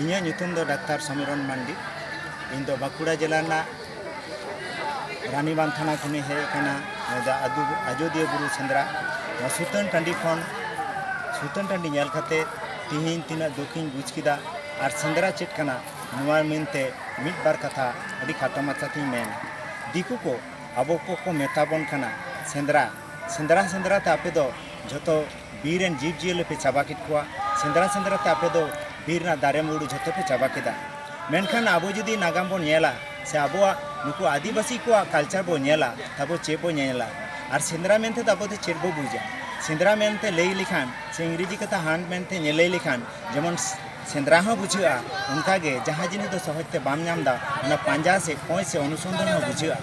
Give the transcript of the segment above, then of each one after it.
ᱤᱧᱟᱹᱜ ᱧᱩᱛᱩᱢ ᱫᱚ ᱰᱟᱠᱛᱟᱨ ᱥᱚᱢᱤᱨᱚᱱ ᱢᱟᱱᱰᱤ ᱤᱧ ᱫᱚ ᱵᱟᱸᱠᱩᱲᱟ ᱡᱮᱞᱟ ᱨᱮᱱᱟᱜ ᱨᱟᱱᱤᱵᱟᱸᱫᱷ ᱛᱷᱟᱱᱟ ᱠᱷᱚᱱᱤᱧ ᱦᱮᱡ ᱟᱠᱟᱱᱟ ᱱᱚᱣᱟ ᱟᱡᱚᱫᱤᱭᱟᱹ ᱵᱩᱨᱩ ᱥᱮᱸᱫᱽᱨᱟ ᱱᱚᱣᱟ ᱥᱩᱛᱟᱹᱱ ᱴᱟᱺᱰᱤ ᱠᱷᱚᱱ ᱥᱩᱛᱟᱹᱱ ᱴᱟᱺᱰᱤ ᱧᱮᱞ ᱠᱟᱛᱮ ᱛᱤᱦᱤᱧ ᱛᱤᱱᱟᱹᱜ ᱫᱩᱠᱤᱧ ᱵᱩᱡᱽ ᱠᱮᱫᱟ ᱟᱨ ᱥᱮᱸᱫᱽᱨᱟ ᱪᱮᱫ ᱠᱟᱱᱟ ᱱᱚᱣᱟ ᱢᱮᱱᱛᱮ ᱢᱤᱫ ᱵᱟᱨ ᱠᱟᱛᱷᱟ ᱟᱹᱰᱤ ᱠᱷᱟᱴᱚ ᱢᱟᱪᱷᱟᱛᱤᱧ ᱢᱮᱱ ᱫᱤᱠᱩ ᱠᱚ ᱟᱵᱚ ᱠᱚᱠᱚ ᱢᱮᱛᱟ ᱵᱚᱱ ᱠᱟᱱᱟ ᱥᱮᱸᱫᱽᱨᱟ ᱥᱮᱸᱫᱽᱨᱟ ᱥᱮᱸᱫᱽᱨᱟ ᱛᱮ ᱟᱯᱮ ᱫᱚ ᱡᱚᱛᱚ ᱵᱤᱨ ᱨᱮᱱ ᱡᱤᱵᱽ ᱡᱤᱭᱟᱹᱞᱤ ᱯᱮ ᱪᱟᱵᱟ ᱠᱮᱫ ᱠᱚᱣᱟ ᱥᱮᱸᱫᱽᱨᱟ ᱥᱮᱸᱫᱽᱨᱟ ᱛᱮ ᱟᱯᱮ ᱫᱚ ᱵᱤᱨ ᱨᱮᱱᱟᱜ ᱫᱟᱨᱮ ᱢᱩᱲᱩ ᱡᱷᱚᱛᱚ ᱯᱮ ᱪᱟᱵᱟ ᱠᱮᱫᱟ ᱢᱮᱱᱠᱷᱟᱱ ᱟᱵᱚ ᱡᱩᱫᱤ ᱱᱟᱜᱟᱢ ᱵᱚᱱ ᱧᱮᱞᱟ ᱥᱮ ᱟᱵᱚᱣᱟᱜ ᱱᱩᱠᱩ ᱟᱹᱫᱤᱵᱟᱹᱥᱤ ᱠᱚᱣᱟᱜ ᱠᱟᱞᱪᱟᱨ ᱵᱚᱱ ᱧᱮᱞᱟ ᱛᱟᱵᱚ ᱪᱮᱫ ᱵᱚᱱ ᱧᱮᱞᱟ ᱟᱨ ᱥᱮᱸᱫᱽᱨᱟ ᱢᱮᱱᱛᱮ ᱫᱚ ᱟᱵᱚ ᱫᱚ ᱪᱮᱫ ᱵᱚ ᱵᱩᱡᱟ ᱥᱮᱸᱫᱽᱨᱟ ᱢᱮᱱᱛᱮ ᱞᱟᱹᱭ ᱞᱮᱠᱷᱟᱱ ᱥᱮ ᱤᱝᱨᱮᱡᱤ ᱠᱟᱛᱷᱟ ᱦᱟᱱᱴ ᱢᱮᱱᱛᱮ ᱞᱟᱹᱭ ᱞᱮᱠᱷᱟᱱ ᱡᱮᱢᱚᱱ ᱥᱮᱸᱫᱽᱨᱟ ᱦᱚᱸ ᱵᱩᱡᱷᱟᱹᱜᱼᱟ ᱚᱱᱠᱟᱜᱮ ᱡᱟᱦᱟᱸ ᱡᱤᱱᱤᱥ ᱫᱚ ᱥᱚᱦᱚᱡ ᱛᱮ ᱵᱟᱢ ᱧᱟᱢ ᱮᱫᱟ ᱚᱱᱟ ᱯᱟᱸᱡᱟ ᱥᱮ ᱠᱚᱸᱭ ᱥᱮ ᱚᱱᱩᱥᱚᱱᱫᱷᱟᱱ ᱦᱚᱸ ᱵᱩᱡᱷᱟᱹᱜᱼᱟ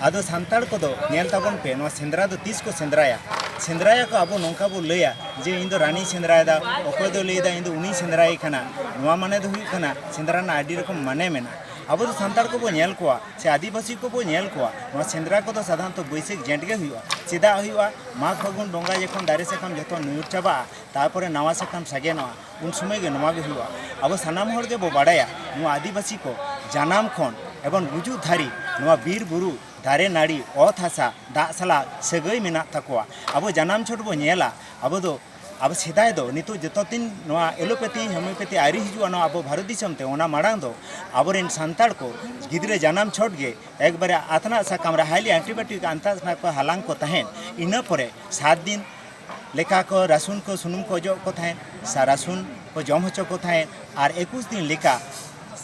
ᱟᱫᱚ ᱥᱟᱱᱛᱟᱲ ᱠᱚᱫᱚ ᱧᱮᱞ ᱛᱟᱵᱚᱱ ᱯᱮ ᱱᱚᱣᱟ ᱥᱮᱸᱫᱽᱨᱟ ᱫᱚ ᱛᱤᱥ ᱠᱚ ᱥᱮᱸᱫᱽᱨᱟᱭᱟ ᱥᱮᱸᱫᱽᱨᱟᱭᱟ ᱠᱚ ᱟᱵᱚ ᱱᱚᱝᱠᱟ ᱵᱚ ᱞᱟᱹᱭᱟ ᱡᱮ ᱤᱧ ᱫᱚ ᱨᱟᱱᱤᱧ ᱥᱮᱸᱫᱽᱨᱟᱭᱮᱫᱟ ᱚᱠᱚᱭ ᱫᱚ ᱞᱟᱹᱭᱫᱟ ᱤᱧ ᱫᱚ ᱩᱱᱤᱧ ᱥᱮᱸᱫᱽᱨᱟᱭᱮ ᱠᱟᱱᱟ ᱱᱚᱣᱟ ᱢᱟᱱᱮ ᱫᱚ ᱦᱩᱭᱩᱜ ᱠᱟᱱᱟ ᱥᱮᱸᱫᱽᱨᱟ ᱨᱮᱱᱟᱜ ᱟᱹᱰᱤ ᱨᱚᱠᱚᱢ ᱢᱟᱱᱮ ᱢᱮᱱᱟᱜᱼᱟ ᱟᱵᱚ ᱫᱚ ᱥᱟᱱᱛᱟᱲ ᱠᱚᱵᱚ ᱧᱮᱞ ᱠᱚᱣᱟ ᱥᱮ ᱟᱹᱫᱤᱵᱟᱹᱥᱤ ᱠᱚᱵᱚ ᱧᱮᱞ ᱠᱚᱣᱟ ᱱᱚᱣᱟ ᱥᱮᱸᱫᱽᱨᱟ ᱠᱚᱫᱚ ᱥᱟᱫᱷᱟᱨᱚᱱᱛᱚ ᱵᱟᱹᱭᱥᱟᱹᱠᱷ ᱡᱮᱸᱴ ᱜᱮ ᱦᱩᱭᱩᱜᱼᱟ ᱪᱮᱫᱟᱜ ᱦᱩᱭᱩᱜᱼᱟ ᱢᱟᱜᱽ ᱯᱷᱟᱹᱜᱩᱱ ᱵᱚᱸᱜᱟ ᱡᱚᱠᱷᱚᱱ ᱫᱟᱨᱮ ᱥᱟᱠᱟᱢ ᱡᱚᱛᱚ ᱧᱩᱨ ᱪᱟᱵᱟᱜᱼᱟ ᱛᱟᱨᱯᱚᱨᱮ ᱱᱟᱣᱟ ᱥᱟᱠᱟᱢ ᱥᱟᱜᱮᱱᱚᱜᱼᱟ ᱩᱱ ᱥᱚᱢᱚᱭ ᱜᱮ ᱱᱚᱣᱟ ᱜᱮ ᱦᱩᱭᱩᱜᱼᱟ ᱟᱵᱚ ᱥᱟᱱᱟᱢ ᱦᱚᱲ ᱜᱮᱵᱚ ᱵᱟᱲᱟᱭᱟ ᱱᱚᱣᱟ ᱟᱹᱫᱤᱵᱟᱹᱥᱤ ᱠᱚ ᱡᱟᱱᱟᱢ ᱠᱷᱚᱱ ᱮᱵᱚᱝ ᱜᱩᱡᱩᱜ ᱫᱷᱟᱹᱨᱤᱡ ᱱᱚᱣᱟ ᱵᱤᱨ ᱵᱩᱨᱩ ᱫᱟᱨᱮ ᱱᱟᱹᱲᱤ ᱚᱛ ᱦᱟᱥᱟ ᱫᱟᱜ ᱥᱟᱞᱟᱜ ᱥᱟᱹᱜᱟᱹᱭ ᱢᱮᱱᱟᱜ ᱛᱟᱠᱚᱣᱟ ᱟᱵᱚ ᱡᱟᱱᱟᱢ ᱪᱷᱚᱴ ᱵᱚ ᱧᱮᱞᱟ ᱟᱵᱚ ᱫᱚ ᱟᱵᱚ ᱥᱮᱫᱟᱭ ᱫᱚ ᱱᱤᱛᱚᱜ ᱡᱚᱛᱚ ᱫᱤᱱ ᱱᱚᱣᱟ ᱮᱞᱳᱯᱮᱛᱷᱤ ᱦᱳᱢᱤᱭᱳᱯᱮᱛᱷᱤ ᱟᱹᱣᱨᱤ ᱦᱤᱡᱩᱜᱼᱟ ᱱᱚᱣᱟ ᱟᱵᱚ ᱵᱷᱟᱨᱚᱛ ᱫᱤᱥᱚᱢ ᱛᱮ ᱚᱱᱟ ᱢᱟᱲᱟᱝ ᱫᱚ ᱟᱵᱚᱨᱮᱱ ᱥᱟᱱᱛᱟᱲ ᱠᱚ ᱜᱤᱫᱽᱨᱟᱹ ᱡᱟᱱᱟᱢ ᱪᱷᱚᱴ ᱜᱮ ᱮᱠᱵᱟᱨᱮ ᱟᱛᱱᱟᱜ ᱥᱟᱠᱟᱢ ᱨᱮ ᱦᱟᱭᱞᱤ ᱮᱱᱴᱤᱵᱟᱭᱳᱴᱤᱠ ᱟᱱᱛᱟᱥ ᱠᱚ ᱦᱟᱞᱟᱝ ᱠᱚ ᱛᱟᱦᱮᱸᱫ ᱤᱱᱟᱹ ᱯᱚᱨᱮ ᱥᱟᱛ ᱫᱤᱱ ᱞᱮᱠᱟ ᱠᱚ ᱨᱟᱹᱥᱩᱱ ᱠᱚ ᱥᱩᱱᱩᱢ ᱠᱚ ᱚᱡᱚᱜ ᱠᱚ ᱛᱟᱦᱮᱸᱫ ᱥᱟ ᱨᱟᱹᱥᱩᱱ ᱠᱚ ᱡᱚᱢ ᱦᱚᱪᱚ ᱠᱚ ᱛᱟᱦᱮᱸᱫ ᱟᱨ ᱮᱠᱩᱥ ᱫᱤᱱ ᱞᱮᱠᱟ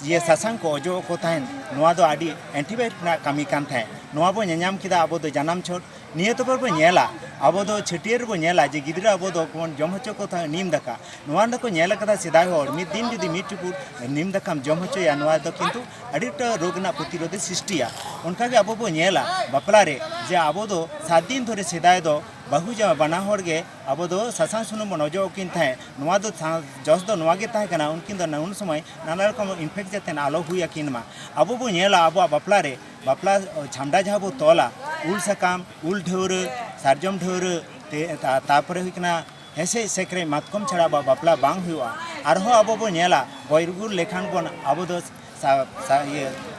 ᱤᱭᱟᱹ ᱥᱟᱥᱟᱝ ᱠᱚ ᱚᱡᱚᱜ ᱠᱚ ᱛᱟᱦᱮᱸᱫ ᱱᱚᱣᱟ ᱫᱚ ᱟᱹᱰᱤ ᱮᱱᱴᱤᱵᱟᱭᱳᱴᱤᱠ ᱨᱮᱱᱟᱜ ᱠᱟᱹᱢᱤ ᱠᱟᱱ ᱛᱟᱦᱮᱸᱫ ᱱᱚᱣᱟ ᱵᱚ ᱧᱮᱧᱟᱢ ᱠᱮᱫᱟ ᱟᱵᱚ ᱫᱚ ᱡᱟᱱᱟᱢ ᱪᱷᱚᱴ ᱱᱤᱭᱟᱹ ᱛᱮᱵᱚ ᱵᱚ ᱧᱮᱞᱟ ᱟᱵᱚ ᱫᱚ ᱪᱷᱟᱹᱴᱭᱟᱹᱨ ᱨᱮᱵᱚ ᱧᱮᱞᱟ ᱡᱮ ᱜᱤᱫᱽᱨᱟᱹ ᱟᱵᱚ ᱫᱚ ᱵᱚᱱ ᱡᱚᱢ ᱦᱚᱪᱚ ᱠᱚ ᱛᱟᱦᱮᱸᱫ ᱱᱤᱢ ᱫᱟᱠᱟ ᱱᱚᱣᱟ ᱨᱮᱫᱚ ᱠᱚ ᱧᱮᱞ ᱟᱠᱟᱫᱟ ᱥᱮᱫᱟᱭ ᱦᱚᱲ ᱢᱤᱫ ᱫᱤᱱ ᱡᱩᱫᱤ ᱢᱤᱫ ᱪᱩᱯᱩᱫ ᱱᱤᱢ ᱫᱟᱠᱟᱢ ᱡᱚᱢ ᱦᱚᱪᱚᱭᱟ ᱱᱚᱣᱟ ᱫᱚ ᱠᱤᱱᱛᱩ ᱟᱹᱰᱤ ᱮᱠᱴᱟ ᱨᱳᱜᱽ ᱨᱮᱱᱟᱜ ᱯᱨᱚᱛᱤᱨᱳᱫᱷᱮ ᱥᱨᱤᱥᱴᱤᱭᱟ ᱚᱱᱠᱟ ᱜᱮ ᱟᱵᱚ ᱵᱚ ᱧᱮᱞᱟ ᱵᱟᱯᱞᱟ ᱨᱮ ᱡᱮ ᱟᱵᱚ ᱫᱚ ᱥᱟᱛ ᱫᱤᱱ ᱫᱷᱚᱨᱮ ᱥᱮᱫᱟᱭ ᱫᱚ ᱵᱟᱹᱦᱩ ᱡᱟᱶᱟᱭ ᱵᱟᱱᱟ ᱦᱚᱲ ᱜᱮ ᱟᱵᱚ ᱫᱚ ᱥᱟᱥᱟᱝ ᱥᱩᱱᱩᱢ ᱵᱚᱱ ᱚᱡᱚᱜ ᱟᱹᱠᱤᱱ ᱛᱟᱦᱮᱸᱫ ᱱᱚᱣᱟ ᱫᱚ ᱡᱚᱥ ᱫᱚ ᱱᱚᱣᱟ ᱜᱮ ᱛᱟᱦᱮᱸ ᱠᱟᱱᱟ ᱩᱱᱠᱤᱱ ᱫᱚ ᱩᱱ ᱥᱚᱢᱚᱭ ᱱᱟᱱᱟ ᱨᱚᱠᱚᱢ ᱤᱱᱯᱷᱮᱠᱴ ᱡᱟᱛᱮ ᱟᱞᱚ ᱦᱩᱭ ᱟᱹᱠᱤᱱ ᱢᱟ ᱟᱵᱚ ᱵᱚᱱ ᱧᱮᱞᱟ ᱟᱵᱚᱣᱟᱜ ᱵᱟᱯᱞᱟ ᱨᱮ ᱵᱟᱯᱞᱟ ᱪᱷᱟᱢᱰᱟ ᱡᱟᱦᱟᱸ ᱵᱚᱱ ᱛᱚᱞᱟ ᱩᱞ ᱥᱟᱠᱟᱢ ᱩᱞ ᱰᱷᱟᱹᱣᱨᱟᱹ ᱥᱟᱨᱡᱚᱢ ᱰᱷᱟᱹᱣᱨᱟᱹ ᱛᱟᱨᱯᱚᱨᱮ ᱦᱩᱭᱩᱜ ᱠᱟᱱᱟ ᱦᱮᱸᱥᱮᱡ ᱥᱮᱠᱨᱮᱡ ᱢᱟᱛᱠᱚᱢ ᱪᱷᱟᱲᱟ ᱟᱵᱚᱣᱟᱜ ᱵᱟᱯᱞᱟ ᱵᱟᱝ ᱦᱩᱭᱩᱜᱼᱟ ᱟᱨᱦᱚᱸ ᱟᱵᱚ ᱵᱚᱱ ᱧᱮᱞᱟ ᱜᱚᱡ ᱜᱩᱨ ᱞᱮᱠᱷᱟᱱ ᱵᱚᱱ ᱟᱵᱚ ᱫᱚ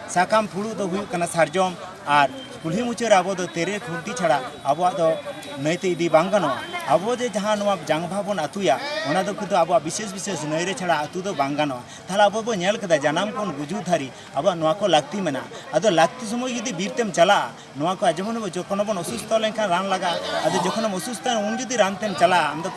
ᱥᱟᱠᱟᱢ ᱯᱷᱩᱲᱩᱜ ᱫᱚ ᱦᱩᱭᱩᱜ ᱠᱟᱱᱟ ᱥᱟᱨᱡᱚᱢ ᱟᱨ ᱠᱩᱞᱦᱤ ᱢᱩᱪᱟᱹᱫ ᱨᱮ ᱟᱵᱚ ᱫᱚ ᱛᱮᱨᱮᱞ ᱠᱷᱩᱱᱴᱤ ᱪᱷᱟᱲᱟ ᱟᱵᱚᱣᱟᱜ ᱫᱚ ᱱᱟᱹᱭ ᱛᱮ ᱤᱫᱤ ᱵᱟᱝ ᱜᱟᱱᱚᱜᱼᱟ ᱟᱵᱚ ᱡᱮ ᱡᱟᱦᱟᱸ ᱱᱚᱣᱟ ᱡᱟᱝ ᱵᱟᱦᱟ ᱵᱚᱱ ᱟᱹᱛᱩᱭᱟ ᱚᱱᱟ ᱫᱚ ᱠᱤᱱᱛᱩ ᱟᱵᱚᱣᱟᱜ ᱵᱤᱥᱮᱥ ᱵᱤᱥᱮᱥ ᱱᱟᱹᱭ ᱨᱮ ᱪᱷᱟᱲᱟ ᱟᱹᱛᱩ ᱫᱚ ᱵᱟᱝ ᱜᱟᱱᱚᱜᱼᱟ ᱛᱟᱦᱚᱞᱮ ᱟᱵᱚ ᱵᱚᱱ ᱧᱮᱞ ᱠᱮᱫᱟ ᱡᱟᱱᱟᱢ ᱠᱷᱚᱱ ᱜᱩᱡᱩᱜ ᱫᱷᱟᱹᱨᱤᱡ ᱟᱵᱚᱣᱟᱜ ᱱᱚᱣᱟ ᱠᱚ ᱞᱟᱹᱠᱛᱤ ᱢᱮᱱᱟᱜᱼᱟ ᱟᱫᱚ ᱞᱟᱹᱠᱛᱤ ᱥᱚᱢᱚᱭ ᱡᱩᱫᱤ ᱵᱤᱨ ᱛᱮᱢ ᱪᱟᱞᱟᱜᱼᱟ ᱱᱚᱣᱟ ᱠᱚ ᱡᱮᱢᱚᱱ ᱡᱚᱠᱷᱚᱱ ᱵᱚᱱ ᱚᱥᱩᱥᱛᱷᱚ ᱞᱮᱱᱠᱷᱟᱱ ᱨᱟᱱ ᱞᱟᱜᱟᱜᱼᱟ ᱟᱫᱚ ᱡᱚᱠᱷᱚᱱᱮᱢ ᱚᱥᱩᱥᱛᱷᱚ ᱩᱱ ᱡᱩᱫᱤ ᱨᱟᱱ ᱛᱮᱢ ᱪᱟᱞᱟᱜᱼᱟ ᱟᱢ ᱫᱚ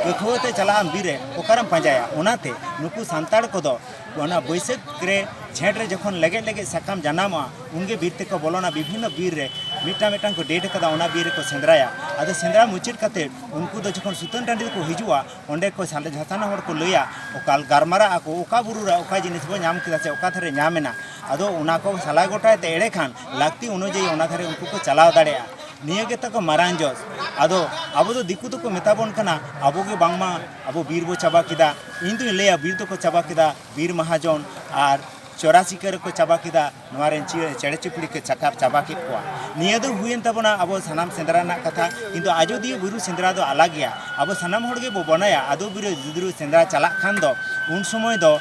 ᱠᱟᱹᱠᱷᱩᱣᱟᱹ ᱛᱮ ᱪᱟᱞᱟᱜ ᱟᱢ ᱵᱤᱨ ᱨᱮ ᱚᱠᱟᱨᱮᱢ ᱯᱟᱸᱡᱟᱭᱟ ᱚᱱᱟᱛᱮ ᱱᱩᱠᱩ ᱥᱟᱱᱛᱟᱲ ᱠᱚᱫᱚ ᱚᱱᱟ ᱵᱟᱹᱭᱥᱟᱹᱠᱷ ᱨᱮ ᱡᱷᱮᱸᱴ ᱨᱮ ᱡᱚᱠᱷᱚᱱ ᱞᱮᱜᱮᱡ ᱞᱮᱜᱮᱡ ᱥᱟᱠᱟᱢ ᱡᱟᱱᱟᱢᱚᱜᱼᱟ ᱩᱱᱜᱮ ᱵᱤᱨ ᱛᱮᱠᱚ ᱵᱚᱞᱚᱱᱟ ᱵᱤᱵᱷᱤᱱᱱᱚ ᱵᱤᱨ ᱨᱮ ᱢᱤᱫᱴᱟᱝ ᱢᱤᱫᱴᱟᱝ ᱠᱚ ᱰᱮᱴ ᱟᱠᱟᱫᱟ ᱚᱱᱟ ᱵᱤᱨ ᱨᱮᱠᱚ ᱥᱮᱸᱫᱽᱨᱟᱭᱟ ᱟᱫᱚ ᱥᱮᱸᱫᱽᱨᱟ ᱢᱩᱪᱟᱹᱫ ᱠᱟᱛᱮ ᱩᱱᱠᱩ ᱫᱚ ᱡᱚᱠᱷᱚᱱ ᱥᱩᱛᱟᱹᱱ ᱴᱟᱺᱰᱤ ᱨᱮᱠᱚ ᱦᱤᱡᱩᱜᱼᱟ ᱚᱸᱰᱮ ᱠᱚ ᱥᱟᱸᱰᱮ ᱡᱷᱟᱥᱟᱱᱟ ᱦᱚᱲ ᱠᱚ ᱞᱟᱹᱭᱟ ᱚᱠᱟ ᱜᱟᱨᱢᱟᱨᱟᱜ ᱟᱠᱚ ᱚᱠᱟ ᱵᱩᱨᱩ ᱨᱮ ᱚᱠᱟ ᱡᱤᱱᱤᱥ ᱵᱚ ᱧᱟᱢ ᱠᱮᱫᱟ ᱥᱮ ᱚᱠᱟ ᱫᱷᱟᱨᱮ ᱧᱟᱢᱮᱱᱟ ᱟᱫᱚ ᱚᱱᱟ ᱠᱚ ᱥᱟᱞᱟ ᱜᱚᱴᱟᱭ ᱛᱮ ᱮᱲᱮ ᱠᱷᱟᱱ ᱞᱟᱹᱠᱛᱤ ᱚᱱᱩᱡᱟᱭᱤ ᱚᱱᱟ ᱫᱷᱟᱨᱮ ᱩᱱᱠᱩ ᱠᱚ ᱪᱟᱞᱟᱣ ᱫᱟᱲᱮᱭᱟᱜᱼᱟ ᱱᱤᱭᱟᱹ ᱜᱮ ᱛᱟᱠᱚ ᱢᱟᱨᱟᱝ ᱡᱚᱥ ᱟᱫᱚ ᱟᱵᱚ ᱫᱚ ᱫᱤᱠᱩ ᱫᱚᱠᱚ ᱢᱮᱛᱟ ᱵᱚᱱ ᱠᱟᱱᱟ ᱟᱵᱚ ᱜᱮ ᱵᱟᱝᱢᱟ ᱟᱵᱚ ᱵᱤᱨ ᱵᱚ ᱪᱟᱵᱟ ᱠᱮᱫᱟ ᱤᱧ ᱫᱩᱧ ᱞᱟᱹᱭᱟ ᱵᱤᱨ ᱫᱚᱠᱚ ᱪᱟᱵᱟ ᱠᱮᱫᱟ ᱵᱤᱨ ᱢᱟᱦᱟᱡᱚᱱ ᱟᱨ ᱪᱚᱨᱟ ᱪᱤᱠᱟᱹᱨ ᱠᱚ ᱪᱟᱵᱟ ᱠᱮᱫᱟ ᱱᱚᱣᱟ ᱨᱮᱱ ᱪᱮᱬᱮ ᱪᱩᱯᱲᱤ ᱠᱚ ᱪᱟᱠᱟᱯ ᱪᱟᱵᱟ ᱠᱮᱫ ᱠᱚᱣᱟ ᱱᱤᱭᱟᱹ ᱫᱚ ᱦᱩᱭᱮᱱ ᱛᱟᱵᱚᱱᱟ ᱟᱵᱚ ᱥᱟᱱᱟᱢ ᱥᱮᱸᱫᱽᱨᱟ ᱨᱮᱱᱟᱜ ᱠᱟᱛᱷᱟ ᱠᱤᱱᱛᱩ ᱟᱡᱚᱫᱤᱭᱟᱹ ᱵᱩᱨᱩ ᱥᱮᱸᱫᱽᱨᱟ ᱫᱚ ᱟᱞᱟᱜ ᱜᱮᱭᱟ ᱟᱵᱚ ᱥᱟᱱᱟᱢ ᱦᱚᱲ ᱜᱮ ᱵᱚ ᱵᱚᱱᱟᱭᱟ ᱟᱫᱚ ᱵᱤᱨ ᱡᱩᱫᱨᱩ ᱥᱮᱸᱫᱽᱨᱟ ᱪᱟᱞᱟᱜ ᱠᱷᱟᱱ ᱫᱚ ᱩᱱ ᱥᱚᱢᱚᱭ ᱫᱚ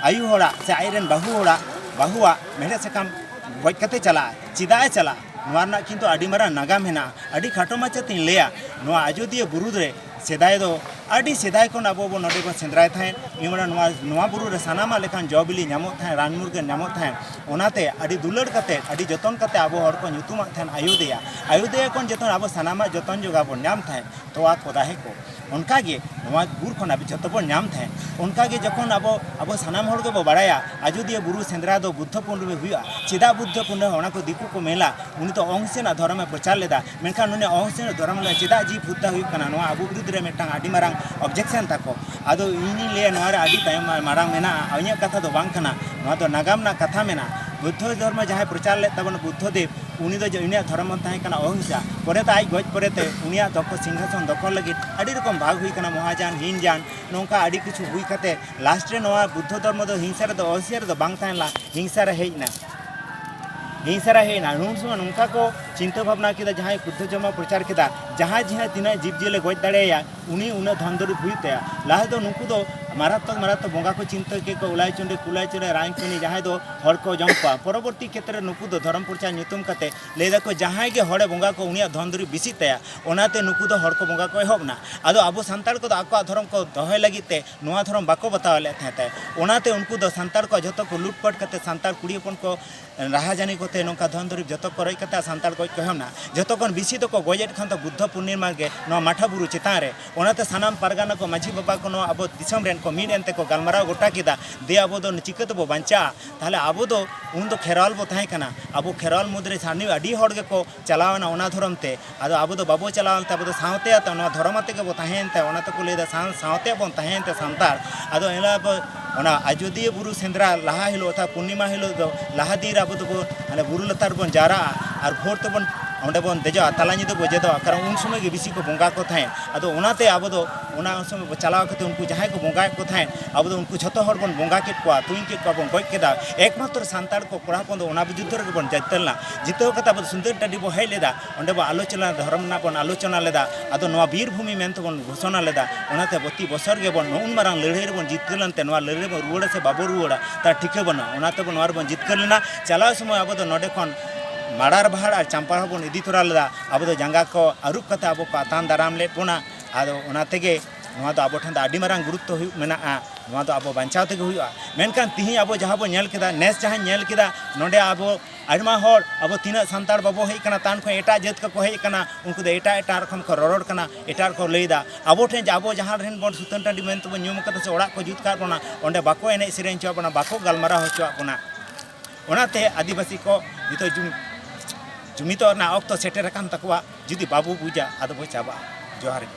ᱟᱭᱩ ᱦᱚᱲᱟᱜ ᱥᱮ ᱟᱡ ᱨᱮᱱ ᱵᱟᱹᱦᱩ ᱦᱚᱲᱟᱜ ᱵᱟᱹᱦᱩᱣᱟᱜ ᱢᱮᱲᱦᱮᱫ ᱥᱟᱠᱟᱢ ᱜᱚᱡ ᱠᱟᱛᱮ ᱪᱟᱞᱟᱜ ᱪᱮᱫᱟᱜ ᱮ ᱪᱟᱞᱟᱜ ᱱᱚᱣᱟ ᱨᱮᱱᱟᱜ ᱠᱤᱱᱛᱩ ᱟᱹᱰᱤ ᱢᱟᱨᱟᱝ ᱱᱟᱜᱟᱢ ᱦᱮᱱᱟᱜᱼᱟ ᱟᱹᱰᱤ ᱠᱷᱟᱴᱚ ᱢᱟᱪᱷᱟ ᱛᱤᱧ ᱞᱟᱹᱭᱟ ᱱᱚᱣᱟ ᱟᱡᱚᱫᱤᱭᱟᱹ ᱵᱩᱨᱩ ᱨᱮ ᱥᱮᱫᱟᱭ ᱫᱚ ᱟᱹᱰᱤ ᱥᱮᱫᱟᱭ ᱠᱷᱚᱱ ᱟᱵᱚ ᱵᱚ ᱱᱚᱰᱮ ᱵᱚ ᱥᱮᱸᱫᱽᱨᱟᱭ ᱛᱟᱦᱮᱸᱫ ᱡᱮᱢᱚᱱ ᱱᱚᱣᱟ ᱱᱚᱣᱟ ᱵᱩᱨᱩ ᱨᱮ ᱥᱟᱱᱟᱢᱟᱜ ᱞᱮᱠᱟᱱ ᱡᱚ ᱵᱤᱞᱤ ᱧᱟᱢᱚᱜ ᱛᱟᱦᱮᱸᱫ ᱨᱟᱱ ᱢᱩᱨᱜᱟᱹᱱ ᱧᱟᱢᱚᱜ ᱛᱟᱦᱮᱸᱫ ᱚᱱᱟᱛᱮ ᱟᱹᱰᱤ ᱫᱩᱞᱟᱹᱲ ᱠᱟᱛᱮ ᱟᱹᱰᱤ ᱡᱚᱛᱚᱱ ᱠᱟᱛᱮ ᱟᱵᱚ ᱦᱚᱲ ᱠᱚ ᱧᱩᱛᱩᱢᱟᱜ ᱛᱟᱦᱮᱸᱫ ᱟᱭᱳᱫᱮᱭᱟ ᱟᱭᱳᱫᱮᱭᱟ ᱠᱷᱚᱱ ᱡᱚᱛᱚ ᱟᱵᱚ ᱥᱟᱱᱟᱢᱟᱜ ᱡᱚᱛᱚᱱ ᱡᱚᱜᱟᱣ ᱵᱚᱱ ᱧᱟᱢ ᱛᱟᱦᱮᱸᱫ ᱛᱚᱣᱟ ᱠᱚ ᱫᱟᱦᱮ ᱠᱚ ᱚᱱᱠᱟ ᱜᱮ ᱱᱚᱣᱟ ᱵᱩᱨ ᱠᱷᱚᱱ ᱟᱵᱚ ᱡᱚᱛᱚ ᱵᱚᱱ ᱧᱟᱢ ᱛᱟᱦᱮᱸᱫ ᱚᱱᱠᱟ ᱜᱮ ᱡᱚᱠᱷᱚᱱ ᱟᱵᱚ ᱟᱵᱚ ᱥᱟᱱᱟᱢ ᱦᱚᱲ ᱜᱮᱵᱚ ᱵᱟᱲᱟᱭᱟ ᱟᱡᱚᱫᱤᱭᱟᱹ ᱵᱩᱨᱩ ᱥᱮᱸᱫᱽᱨᱟ ᱫᱚ ᱵᱩᱫᱽᱫᱷᱚ ᱯᱩᱨᱱᱤᱢᱟ ᱦᱩᱭᱩᱜᱼᱟ ᱪᱮᱫᱟᱜ ᱵᱩᱫᱽᱫᱷᱚ ᱯᱩᱨᱱᱤᱢᱟ ᱚᱱᱟ ᱠᱚ ᱫᱤᱠᱩ ᱠᱚ ᱢᱮᱞᱟ ᱩᱱᱤ ᱫᱚ ᱚᱝ ᱥᱮᱱᱟᱜ ᱫᱷᱚᱨᱚᱢ ᱮ ᱯᱨᱚᱪᱟᱨ ᱞᱮᱫᱟ ᱢᱮᱱᱠᱷᱟᱱ ᱩᱱᱤ ᱚᱝ ᱥᱮᱱᱟᱜ ᱫᱷᱚᱨᱚᱢ ᱞᱮ ᱪᱮᱫᱟᱜ ᱡᱤᱵᱽ ᱦᱚᱛᱛᱟ ᱦᱩᱭᱩᱜ ᱠᱟᱱᱟ ᱱᱚᱣᱟ ᱟᱵᱚ ᱵᱤᱨᱩᱫᱽ ᱨᱮ ᱢᱤᱫᱴᱟᱝ ᱟᱹᱰᱤ ᱢᱟᱨᱟᱝ ᱚᱵᱡᱮᱠᱥᱚᱱ ᱛᱟᱠᱚ ᱟᱫᱚ ᱤᱧᱤᱧ ᱞᱟᱹᱭᱟ ᱱᱚᱣᱟ ᱨᱮ ᱟᱹᱰᱤ ᱛᱟᱭᱚᱢ ᱢᱟᱨᱟᱝ ᱢᱮᱱᱟᱜᱼᱟ ᱤᱧᱟᱹᱜ ᱠᱟᱛᱷᱟ ᱫᱚ ᱵᱟᱝ ᱠᱟᱱᱟ ᱱᱚᱣᱟ ᱫᱚ ᱱᱟᱜᱟᱢ ᱨᱮᱱᱟᱜ ᱠᱟᱛᱷᱟ ᱢᱮᱱᱟᱜᱼᱟ ᱵᱩᱫᱽᱫᱷᱚ ᱫᱷᱚᱨᱢᱚ ᱡᱟᱦᱟᱸᱭ ᱯᱨᱚᱪᱟᱨ ᱞᱮᱫ ᱛᱟᱵᱚᱱᱟ ᱵᱩᱫᱽᱫᱷᱚ ᱫᱮᱵᱽ ᱩᱱᱤ ᱫᱚ ᱩᱱᱤᱭᱟᱜ ᱫᱷᱚᱨᱚᱢ ᱦᱚᱸ ᱛᱟᱦᱮᱸ ᱠᱟᱱᱟ ᱚᱦᱤᱝᱥᱟ ᱯᱚᱨᱮ ᱛᱮ ᱟᱡ ᱜᱚᱡ ᱯᱚᱨᱮ ᱛᱮ ᱩᱱᱤᱭᱟᱜ ᱫᱚᱠᱷᱚ ᱥᱤᱝᱦᱟᱥᱚᱱ ᱫᱚᱠᱷᱚᱞ ᱞᱟᱹᱜᱤᱫ ᱟᱹᱰᱤ ᱨᱚᱠᱚᱢ ᱵᱷᱟᱜᱽ ᱦᱩᱭ ᱠᱟᱱᱟ ᱢᱚᱦᱟᱡᱟᱱ ᱦᱤᱱᱡᱟᱱ ᱱᱚᱝᱠᱟ ᱟᱹᱰᱤ ᱠᱤᱪᱷᱩ ᱦᱩᱭ ᱠᱟᱛᱮ ᱞᱟᱥᱴ ᱨᱮ ᱱᱚᱣᱟ ᱵᱩᱫᱽᱫᱷᱚ ᱫᱷᱚᱨᱢᱚ ᱫᱚ ᱦᱤᱝᱥᱟ ᱨᱮᱫᱚ ᱚᱦᱤᱝᱥᱟ ᱨᱮᱫᱚ ᱵᱟᱝ ᱛᱟᱦᱮᱸ ᱞᱮᱱᱟ ᱦᱤᱝᱥᱟ ᱨᱮ ᱦᱮᱡ ᱮᱱᱟ ᱦᱤᱝᱥᱟ ᱨᱮ ᱦᱮᱡ ᱮᱱᱟ ᱱᱩᱱ ᱥᱚᱢᱚᱭ ᱱᱚᱝᱠᱟ ᱠᱚ ᱪᱤᱱᱛᱟᱹ ᱵᱷᱟᱵᱽᱱᱟ ᱠᱮᱫᱟ ᱡᱟᱦᱟᱸᱭ ᱵᱩᱫᱽᱫᱷᱚ ᱫᱷᱚᱨᱢᱚ ᱯᱨᱚᱪᱟᱨ ᱠᱮᱫᱟ ᱡᱟᱦᱟᱸᱭ ᱡᱟᱦᱟᱸ ᱛᱤᱱᱟᱹᱜ ᱡᱤᱵᱽ ᱡᱤᱭᱟᱹᱞᱤ ᱜᱚᱡ ᱫᱟᱲᱮᱭᱟᱭᱟ ᱩᱱᱤ ᱩᱱᱟᱹᱜ ᱫᱷᱚᱱ ᱫᱩᱨᱤᱵ ᱦᱩᱭᱩᱜ ᱛᱟᱭᱟ ᱞᱟᱦᱟ ᱫᱚ ᱱᱩᱠᱩ ᱫᱚ ᱢᱟᱨᱟᱛᱢᱚᱠ ᱢᱟᱨᱟᱛᱢᱚᱠ ᱵᱚᱸᱜᱟ ᱠᱚ ᱪᱤᱱᱛᱟᱹ ᱠᱮᱫ ᱠᱚ ᱩᱞᱟᱭ ᱪᱚᱸᱰᱮ ᱠᱩᱞᱟᱭ ᱪᱚᱸᱰᱮ ᱨᱟᱭ ᱯᱮᱱᱤ ᱡᱟᱦᱟᱸᱭ ᱫᱚ ᱦᱚᱲ ᱠᱚ ᱡᱚᱢ ᱠᱚᱣᱟ ᱯᱚᱨᱚᱵᱚᱨᱛᱤ ᱠᱷᱮᱛᱨᱮ ᱱᱩᱠᱩ ᱫᱚ ᱫᱷᱚᱨᱚᱢ ᱯᱨᱚᱪᱟᱨ ᱧᱩᱛᱩᱢ ᱠᱟᱛᱮ ᱞᱟᱹᱭ ᱫᱟᱠᱚ ᱡᱟᱦᱟᱸᱭ ᱜᱮ ᱦᱚᱲᱮ ᱵᱚᱸᱜᱟ ᱠᱚ ᱩᱱᱤᱭᱟᱜ ᱫᱷᱚᱱ ᱫᱩᱨᱤᱵ ᱵᱮᱥᱤᱜ ᱛᱟᱭᱟ ᱚᱱᱟᱛᱮ ᱱᱩᱠᱩ ᱫᱚ ᱦᱚᱲ ᱠᱚ ᱵᱚᱸᱜᱟ ᱠᱚ ᱮᱦᱚᱵ ᱮᱱᱟ ᱟᱫᱚ ᱟᱵᱚ ᱥᱟᱱᱛᱟᱲ ᱠᱚᱫᱚ ᱟᱠᱚᱣᱟᱜ ᱫᱷᱚᱨᱚᱢ ᱠᱚ ᱫᱚᱦᱚᱭ ᱞᱟᱹᱜᱤᱫ ᱛᱮ ᱱᱚᱣᱟ ᱫᱷᱚᱨᱚᱢ ᱵᱟᱠᱚ ᱵᱟᱛᱟᱣ ᱞᱮᱫ ᱛᱟᱦᱮᱸ ᱚᱱᱟᱛᱮ ᱩᱱᱠᱩ ᱫᱚ ᱥᱟᱱᱛᱟᱲ ᱠᱚᱣᱟᱜ ᱡᱚᱛᱚ ᱠᱚ ᱞᱩᱴᱯᱟᱴ ᱠᱟᱛᱮ ᱥᱟᱱᱛᱟᱲ ᱠᱩᱲᱤ ᱦᱚᱯᱚᱱ ᱠᱚ ᱨᱟᱦᱟᱡᱟᱹᱱᱤ ᱠᱚᱛᱮ ᱱᱚᱝᱠᱟ ᱫᱷᱚᱱ ᱫᱩᱨᱤᱵ ᱡᱚᱛᱚ ᱠᱚ ᱨᱚᱡ ᱠᱟᱛᱮ ᱥᱟᱱᱛᱟᱲ ᱜᱚᱡ ᱠᱚ ᱮᱦᱚᱵ ᱮᱱᱟ ᱡᱚᱛᱚ ᱠᱷᱚᱱ ᱵᱤᱥᱤ ᱫᱚᱠᱚ ᱜᱚᱡᱮᱫ ᱠᱷᱟᱱ ᱫᱚ ᱵᱩᱫᱽᱫᱷᱚ ᱯᱩᱨᱱᱤᱢᱟ ᱜᱮ ᱱᱚᱣᱟ ᱢᱟᱴᱷᱟ ᱵᱩᱨᱩ ᱪᱮᱛᱟᱱ ᱨᱮ ᱚᱱᱟᱛᱮ ᱥᱟᱱᱟᱢ ᱯᱟᱨᱜᱟᱱᱟ ᱠᱚ ᱢᱟᱹᱡᱷᱤ ᱵᱟᱵᱟ ᱠᱚ ᱱᱚᱣᱟ ᱟᱵᱚ ᱫᱤᱥᱚᱢ ᱨᱮᱱ ᱠᱚ ᱢᱤᱫ ᱮᱱᱛᱮ ᱠᱚ ᱜᱟᱞᱢᱟᱨᱟᱣ ᱜᱚᱴᱟ ᱠᱮᱫᱟ ᱫᱮ ᱟᱵᱚ ᱫᱚ ᱪᱤᱠᱟᱹ ᱛᱮᱵᱚ ᱵᱟᱧᱪᱟᱜᱼᱟ ᱛᱟᱦᱚᱞᱮ ᱟᱵᱚ ᱫᱚ ᱩᱱ ᱫᱚ ᱠᱷᱮᱨᱣᱟᱞ ᱵᱚ ᱛᱟᱦᱮᱸ ᱠᱟᱱᱟ ᱟᱵᱚ ᱠᱷᱮᱨᱣᱟᱞ ᱢᱩᱫᱽᱨᱮ ᱥᱟᱨᱱᱤ ᱟᱹᱰᱤ ᱦᱚᱲ ᱜᱮᱠᱚ ᱪᱟᱞᱟᱣᱮᱱᱟ ᱚᱱᱟ ᱫᱷᱚᱨᱚᱢ ᱛᱮ ᱟᱫᱚ ᱟᱵᱚ ᱫᱚ ᱵᱟᱵᱚ ᱪᱟᱞᱟᱣ ᱮᱱᱛᱮ ᱟᱵᱚ ᱫᱚ ᱥᱟᱶᱛᱮ ᱟᱛᱮ ᱱᱚᱣᱟ ᱫᱷᱚᱨᱚᱢ ᱟᱛᱮ ᱜᱮᱵᱚ ᱛᱟᱦᱮᱸᱭᱮᱱ ᱛᱮ ᱚᱱᱟ ᱛᱮᱠᱚ ᱞᱟᱹᱭᱫᱟ ᱥᱟᱶ ᱥᱟᱶᱛᱮ ᱵᱚᱱ ᱛᱟᱦᱮᱸᱭᱮᱱ ᱛᱮ ᱥᱟᱱᱛᱟᱲ ᱟᱫᱚ ᱮᱱ ᱦᱤᱞᱳᱜ ᱟᱵᱚ ᱚᱱᱟ ᱟᱡᱚᱫᱤᱭᱟᱹ ᱵᱩᱨᱩ ᱥᱮᱸᱫᱽᱨᱟ ᱞᱟᱦᱟ ᱦᱤᱞᱳᱜ ᱚᱨᱛᱷᱟᱛ ᱯᱩᱨᱱᱤᱢᱟ ᱦᱤᱞᱳᱜ ᱫᱚ ᱞᱟᱦᱟ ᱫᱤᱱ ᱨᱮ ᱟᱵᱚ ᱫᱚᱵᱚ ᱢᱟᱱᱮ ᱵᱩᱨᱩ ᱞᱟᱛᱟᱨ ᱨᱮᱵᱚᱱ ᱡᱟᱣᱨᱟᱜᱼᱟ ᱟᱨ ᱵᱷᱳᱨ ᱛᱮᱵᱚᱱ ᱚᱸᱰᱮ ᱵᱚᱱ ᱫᱮᱡᱚᱜᱼᱟ ᱛᱟᱞᱟ ᱧᱤᱫᱟᱹ ᱵᱚ ᱡᱮᱫᱚᱜᱼᱟ ᱠᱟᱨᱚᱱ ᱩᱱ ᱥᱚᱢᱚᱭ ᱜᱮ ᱵᱮᱥᱤ ᱠᱚ ᱵᱚᱸᱜᱟ ᱠᱚ ᱛᱟᱦᱮᱸᱫ ᱟᱫᱚ ᱚᱱᱟᱛᱮ ᱟᱵᱚ ᱫᱚ ᱚᱱᱟ ᱩᱱ ᱥᱚᱢᱚᱭ ᱵᱚ ᱪᱟᱞᱟᱣ ᱠᱟᱛᱮ ᱩᱱᱠᱩ ᱡᱟᱦᱟᱸᱭ ᱠᱚ ᱵᱚᱸᱜᱟᱭᱮᱫ ᱠᱚ ᱛᱟᱦᱮᱸᱫ ᱟᱵᱚ ᱫᱚ ᱩᱱᱠᱩ ᱡᱷᱚᱛᱚ ᱦᱚᱲ ᱵᱚᱱ ᱵᱚᱸᱜᱟ ᱠᱮᱫ ᱠᱚᱣᱟ ᱛᱩᱧ ᱠᱮᱫ ᱠᱚᱣᱟ ᱵᱚᱱ ᱜᱚᱡ ᱠᱮᱫᱟ ᱮᱠᱢᱟᱛᱨᱚ ᱥᱟᱱᱛᱟᱲ ᱠᱚ ᱠᱚᱲᱟ ᱦᱚᱯᱚᱱ ᱫᱚ ᱚᱱᱟ ᱵᱤᱨᱩᱫᱽᱫᱷᱚ ᱨᱮᱜᱮ ᱵᱚᱱ ᱡᱤᱛᱠᱟᱹᱨ ᱞᱮᱱᱟ ᱡᱤᱛᱟᱹᱣ ᱠᱟᱛᱮ ᱟᱵᱚ ᱥᱩᱱᱫᱟᱹᱨ ᱴᱟᱺᱰᱤ ᱵᱚ ᱦᱮᱡ ᱞᱮᱫᱟ ᱚᱸᱰᱮ ᱵᱚ ᱟᱞᱳᱪᱚᱱᱟ ᱫᱷᱚᱨᱚᱢ ᱨᱮᱱᱟᱜ ᱵᱚᱱ ᱟᱞᱳᱪᱚᱱᱟ ᱞᱮᱫᱟ ᱟᱫᱚ ᱱᱚᱣᱟ ᱵᱤᱨ ᱵᱷᱩᱢᱤ ᱢᱮᱱᱛᱮ ᱵᱚᱱ ᱜᱷᱳᱥᱚᱱᱟ ᱞᱮᱫᱟ ᱚᱱᱟᱛᱮ ᱯᱨᱚᱛᱤ ᱵᱚᱪᱷᱚᱨ ᱜᱮᱵᱚᱱ ᱱᱩᱱ ᱢᱟᱨᱟᱝ ᱞᱟᱹᱲᱦᱟᱹᱭ ᱨᱮᱵᱚᱱ ᱡᱤᱛᱠᱟᱹᱨ ᱞᱮᱱᱛᱮ ᱱᱚᱣᱟ ᱞᱟᱹᱲᱦᱟᱹᱭ ᱨᱮᱵᱚᱱ ᱨᱩᱣᱟᱹᱲᱟ ᱥᱮ ᱵᱟᱵᱚ ᱨᱩᱣᱟᱹᱲᱟ ᱛᱟᱨ ᱴᱷᱤᱠᱟᱹ ᱵᱟᱹᱱᱩᱜᱼᱟ ᱚᱱᱟᱛᱮ ᱵᱚᱱ ᱱᱚᱣᱟ ᱨᱮᱵᱚᱱ ᱡᱤᱛᱠᱟᱹᱨ ᱞᱮᱱᱟ ᱪᱟᱞᱟᱣ ᱥᱚᱢᱚᱭ ᱟᱵᱚ ᱫᱚ ᱱᱚᱰᱮ ᱠᱷᱚᱱ ᱢᱟᱲᱟᱨ ᱵᱟᱦᱟᱲ ᱟᱨ ᱪᱟᱢᱯᱟ ᱦᱚᱸ ᱵᱚᱱ ᱤᱫᱤ ᱛᱚᱨᱟ ᱞᱮᱫᱟ ᱟᱵᱚ ᱫᱚ ᱡᱟᱸᱜᱟ ᱠᱚ ᱟᱹᱨᱩᱵ ᱠᱟᱛᱮ ᱟᱵᱚ ᱠᱚ ᱟᱛᱟᱝ ᱫᱟᱨᱟᱢ ᱞᱮᱫ ᱵᱚᱱᱟ ᱟᱫᱚ ᱚᱱᱟ ᱛᱮᱜᱮ ᱱᱚᱣᱟ ᱫᱚ ᱟᱵᱚ ᱴᱷᱮᱱ ᱫᱚ ᱟᱹᱰᱤ ᱢᱟᱨᱟᱝ ᱜᱩᱨᱩᱛᱛᱚ ᱦᱩᱭᱩᱜ ᱢᱮᱱᱟᱜᱼᱟ ᱱᱚᱣᱟ ᱫᱚ ᱟᱵᱚ ᱵᱟᱧᱪᱟᱣ ᱛᱮᱜᱮ ᱦᱩᱭᱩᱜᱼᱟ ᱢᱮᱱᱠᱷᱟᱱ ᱛᱤᱦᱤᱧ ᱟᱵᱚ ᱡᱟᱦᱟᱸ ᱵᱚᱱ ᱧᱮᱞ ᱠᱮᱫᱟ ᱱᱮᱥ ᱡᱟᱦᱟᱸᱧ ᱧᱮᱞ ᱠᱮᱫᱟ ᱱᱚᱰᱮ ᱟᱵᱚ ᱟᱭᱢᱟ ᱦᱚᱲ ᱟᱵᱚ ᱛᱤᱱᱟᱹᱜ ᱥᱟᱱᱛᱟᱲ ᱵᱟᱵᱚ ᱦᱮᱡ ᱠᱟᱱᱟ ᱛᱟᱱ ᱠᱷᱚᱱ ᱮᱴᱟᱜ ᱡᱟᱹᱛ ᱠᱚᱠᱚ ᱦᱮᱡ ᱠᱟᱱᱟ ᱩᱱᱠᱩ ᱫᱚ ᱮᱴᱟᱜ ᱮᱴᱟᱜ ᱨᱚᱠᱚᱢ ᱠᱚ ᱨᱚᱨᱚᱲ ᱠᱟᱱᱟ ᱮᱴᱟᱜ ᱠᱚ ᱞᱟᱹᱭᱫᱟ ᱟᱵᱚ ᱴᱷᱮᱱ ᱟᱵᱚ ᱡᱟᱦᱟᱸ ᱨᱮᱱ ᱵᱚᱱ ᱥᱩᱛᱟᱹᱱ ᱴᱟᱺᱰᱤ ᱢᱮᱱᱛᱮ ᱵᱚᱱ ᱧᱩᱢ ᱠᱟᱫᱟ ᱥᱮ ᱚᱲᱟᱜ ᱠᱚ ᱡᱩᱛ ᱠᱟᱜ ᱵᱚᱱᱟ ᱚᱸᱰᱮ ᱵᱟᱠᱚ ᱮᱱᱮᱡ ᱥᱮᱨᱮᱧ ᱦᱚᱪᱚᱣᱟᱜ ᱵᱚᱱᱟ ᱵᱟᱠᱚ ᱜᱟᱞᱢᱟᱨᱟᱣ ᱦᱚᱪᱚᱣᱟᱜ ᱵᱚᱱᱟ ᱚᱱᱟᱛᱮ ᱟᱹᱫᱤᱵᱟᱹᱥᱤ ᱠᱚ ᱱᱤᱛᱚᱜ ᱡᱩᱢᱤᱫᱚᱜ ᱨᱮᱱᱟᱜ ᱚᱠᱛᱚ ᱥᱮᱴᱮᱨ ᱟᱠᱟᱱ ᱛᱟᱠᱚᱣᱟ ᱡᱩᱫᱤ ᱵᱟᱵᱚ ᱵᱩᱡᱟ ᱟᱫᱚ ᱵᱚ ᱪᱟᱵᱟᱜᱼᱟ ᱡᱚᱦᱟᱨ ᱜᱮ